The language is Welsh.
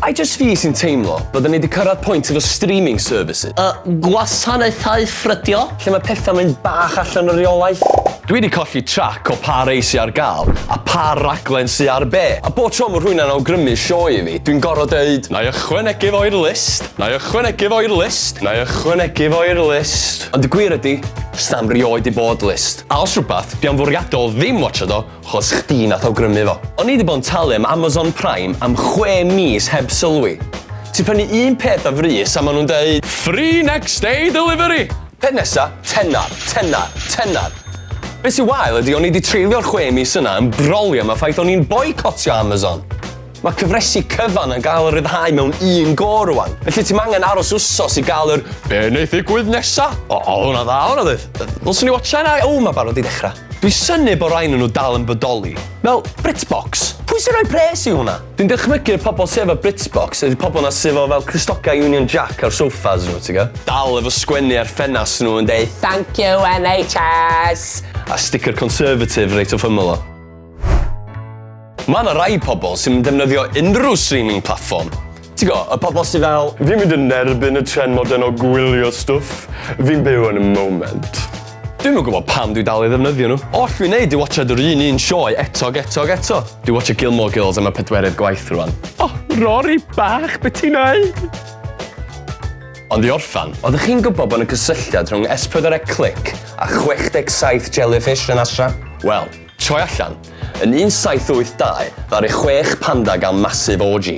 I just fi sy'n teimlo bod ni wedi cyrraedd pwynt efo streaming services. Y gwasanaethau ffrydio. Lle mae pethau mynd bach allan o reolaeth. Dwi wedi colli trac o pa rei sy ar gael a pa raglen sy ar be. A bob tro mae rhywun yn awgrymu sioe i fi, dwi'n gorfod deud, 'na i ychwanegu fo i'r list'. Na'i ychwanegu fo i'r list. Na'i ychwanegu fo i'r list. Ond y gwir ydi, sna'm rioed 'di bod list. A os rwbath, dwi am fwriadol ddim watsiad o, 'chos chdi nath awgrymu fo. O'n i 'di bod yn talu am Amazon Prime am chwe mis heb sylwi. Ti'n prynu un peth o frys a ma' nhw'n deud. Free next day delivery! Peth nesa, tenner, tenner, tenner! Be' sy wael ydi o'n i 'di treulio'r chwe mis yna yn brolio am y ffaith o'n i'n boicotio Amazon. Mae cyfresi cyfan yn cael eu rhyddhau mewn un go rwan, felly ti'm angen aros wsos i gael yr be neith ddigwydd nesa? O, oedd hwnna dda, oedd hwnna ddoedd? Ddylswn i watsha hynna? O, mae barod i ddechrau. Dwi'n synnu bod rai nhw nhw dal yn bodoli. Fel Britbox. Pwy sy'n rhoi pres i hwnna? Dwi'n dychmygu'r pobl sy efo Britbox ydi pobl 'na sy efo fel Crystocau Union Jack ar sofas nhw, ti'n gwbod? Dal efo sgwennu ar ffenast nhw yn deud 'Thank you NHS'! A sticker Conservative reit wrth ymyl o. Mae yna rai pobl sydd yn defnyddio unrhyw streaming platform. Ti'n go, y pobl sydd fel, fi'n mynd yn nerbyn y tren modern o gwylio stwff, fi'n byw yn y moment. Dwi'm yn gwybod pam dwi dal i ddefnyddio nhw. All fi wneud yw watsiad yr un un sioe eto ac eto ac eto. Dwi watsio Gilmore Girls am y pedwerydd gwaith rwan. Oh, Rory bach, beth ti'n neud? Ond i orffan, oeddech chi'n gwybod bod yna cysylltiad rhwng S4C a 67 jellyfish yn Astra? Wel, Troi allan. Yn 1782, ddaru chwech panda gael massive orgy.